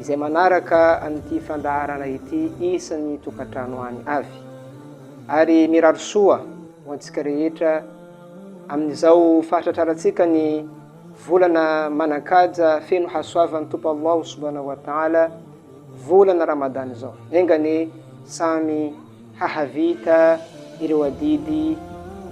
izay manaraka an'ity fandaharana ity isan'ny tokantrano any avy ary mirary soa ho antsika rehetra amin'izao fahatratrarantsika ny volana manankaja feno hasoavan'ny tompo Allahu subhanahu wa ta'ala volana Ramadan izao engane samy hahavita ireo adidy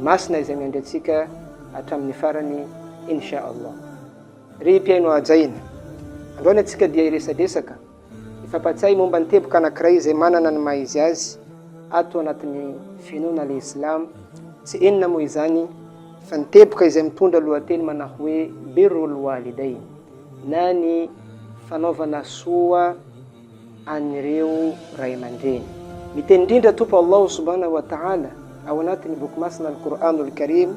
masina izay miandry antsika hatramin'ny farany insha Allah Ry mpihaino hajaina, androany antsika dia hiresadresaka, hifampatsiahy momba ny teboka anankiray izay manana ny maha-izy azy ato anatin'ny finoana le Islam, tsy inona moa izany fa ny teboka izay mitondra lohateny manao hoe Birrul Walidayn na ny fanaovana soa an'ireo ray aman-dreny. Miteny indrindra Tompo Allahu Subhanahu wa Ta'ala ao anatin'ny Boky Masina Al-Qur'anul Karim,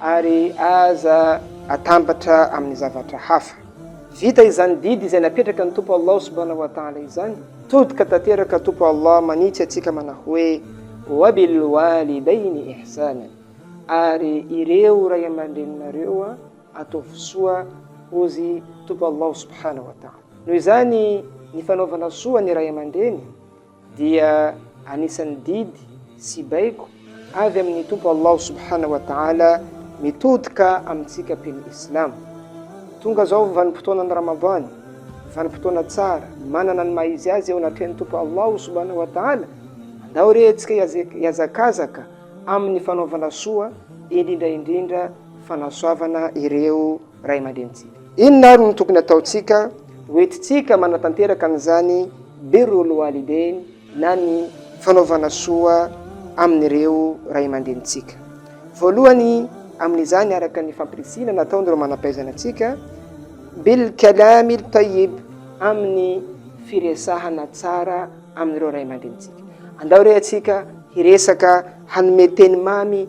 ary aza atambatra amin'ny zavatra hafa. Vita izany didy izay napetraka ny Tompo Allah subhanahu wa ta'ala izany, tody ka tanteraka Tompo Allah manitsy antsika manao hoe, Wa bil walidaini ihsanan, ary ireo ray aman-dreninareo ataovy soa, hozy Tompo Allah subhanahu wa ta'ala. Noho izany, ny fanaovana soa ny ray aman-dreny, dia anisan'ny didy sy baiko avy amin'ny Tompo Allah Subhanahu wa Ta'ala mitodika amintsika mpino Islam. Tonga zao vanim-potoanan'ny Ramadan, vanim-potoana tsara, manana ny maha-izy azy eo anatrehan'ny Tompo Allah Subhanahu wa Ta'ala. Andao re antsika hiazakazaka amin'ny fanaovana soa, indrindra indrindra fanasoavana ireo Ray aman-drenintsika. Inona ary no tokony hataontsika? Hoentintsika manatanteraka an'izany Birrul Walidain na ny fanaovana soa amin'ireo ray aman-drenintsika. Voalohany amin'izany araka ny fampirisihina nataon'ireo manam-pahaizana antsika, Bil kalamil tayyib, amin'ny firesahana tsara amin'ireo ray aman-drenintsika. Andao re atsika hiresaka hanome teny mamy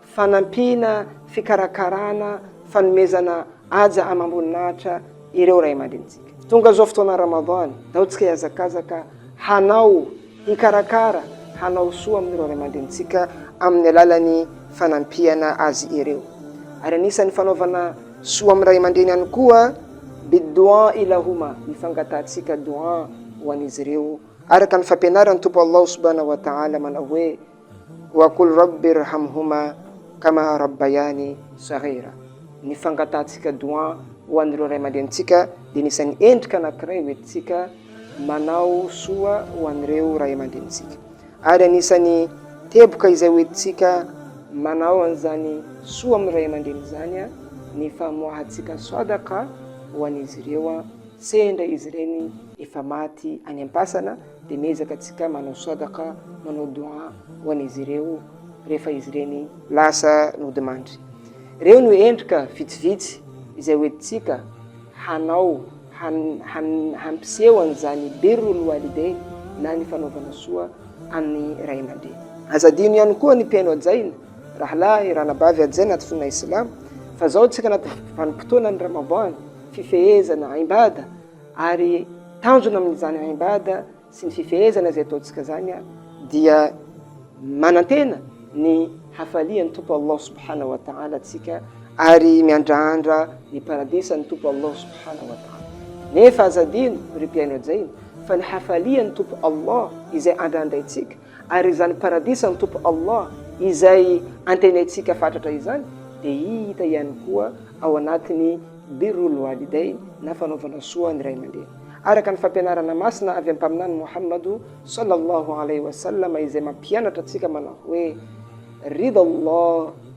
Fanampiana, fikarakarana, fanomezana haja amam-boninahitra ireo ray aman-drenintsika. Tonga izao fotoana Ramadan, ataontsika hiazakazaka hanao, hikarakara, hanao soa amin'ireo ray aman-drenintsika amin'ny alalan'ny fanampiana azy ireo. Ary anisan'ny fanaovana soa amin'ny ray aman-dreny ihany koa, bid-dou'a'i lahuma, ny fangatahantsika doua ho an'izy ireo, araka ny fampianaran'ny Tompo Allah subhanahu wa ta'ala manao hoe, Wa qul Rabbi irhamhuma kama rabbayani saghira. Ny fangatahantsika doua ho an'ireo ray aman-drenintsika dia anisan'ny endrika anankiray hoentintsika manao soa ho an'ireo ray aman-drenintsika. Ary anisan'ny teboka izay hoentintsika manao an'izany soa amin'ny ray aman-dreny izany ny famoahantsika sadaqa ho an'izy ireo, sendra izy ireny efa maty any am-pasana, Dia miezaka tsika manao sodaka, manao don ho an'izy ireo rehefa izy ireny lasa nodimandry. Ireo no endrika vitsivitsy izay hoentintsika hanao hampiseho an'izany birrul walidain na ny fanaovana soa amin'ny ray aman-dreny. Aza adino ihany koa ny mpihaino hajaina, rahalahy, ranabavy hajaina anaty finoana Islamo, fa izao isika anaty vanim-potoanan'ny Ramadan, fifehezana, imbada, Ary tanjona amin'izany haimbada sy ny fifehezana izay ataontsika izany dia manantena ny hafalian'ny Tompo Allah Subhanahu wa Ta'ala antsika ary miandrandra ny paradisan'ny Tompo Allah Subhanahu wa Ta'ala. Nefa aza adino, ry mpihaino ajaina, fa ny hafalian'ny Tompo Allah izay andrandraintsika Ary izany Paradisan'ny Tompo Allah izay antenaintsika fatratra izany dia hita ihany koa ao anatin'ny Birrul Walidayn na fanaovana soa ny ray aman-dreny. Araka ny fampianarana masina avy amin'ny Mpaminany Mohamado sallallahu alayhi wa sallam izay mampianatra antsika manao hoe, Ridha Allah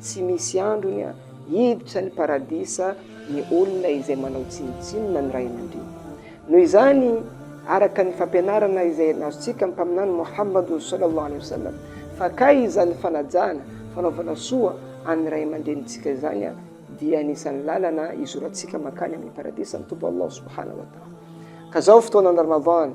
Tsy misy androny an! Hiditra ny paradisa ny olona izay manao tsinontsinona ny ray aman-dreny. Noho izany, araka ny fampianarana izay azontsika amin'ny Mpaminany Mohammad Sallallahu Alaihi Wasallam, fakay izany fanajana, fanaovana soa an'ny ray aman-drenintsika izany an, dia anisan'ny lalana hizorantsika mankany amin'ny paradisa ny Tompo Allah Subhanahu wa Ta'ala. Ka izao fotoanan'ny Ramadan,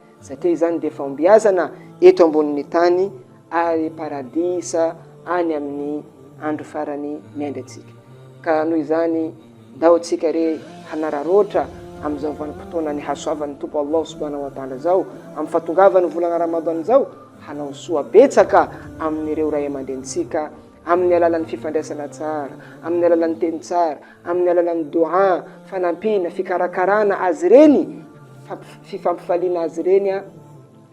satria izany dia fahombiazana eto ambonin'ny tany ary paradisa any amin'ny andro farany miandry antsika. Ka noho izany, ndao tsika re hanararoatra amin'izao vanim-potoana nihasoavan'ny Tompo Allah subhanahu wa ta'ala izao, amin'ny fahatongavan'ny volana Ramadan izao, hanao soa betsaka amin'ireo ray aman-drenintsika, amin'ny alalan'ny fifandraisana tsara, amin'ny alalan'ny teny tsara, amin'ny alalan'ny doha, fanampiana, fikarakarana azy ireny, fifampifaliana azy ireny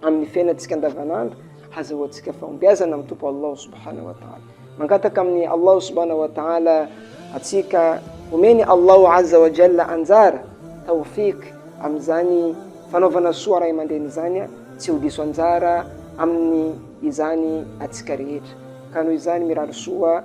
amin'ny fiainantsika andavanandro, hazahoantsika fahombiazana amin'ny Tompo Allah subhanahu wa ta'ala. Mangataka amin'ny Allah subhanahu wa ta'ala atsika omeny Allah azza wa jalla anjara, tawfiq, amin'izany fanaovana soa ray aman-dreny izany, tsy ho diso anjara amin'ny izany atsika rehetra. Ka noho izany mirary soa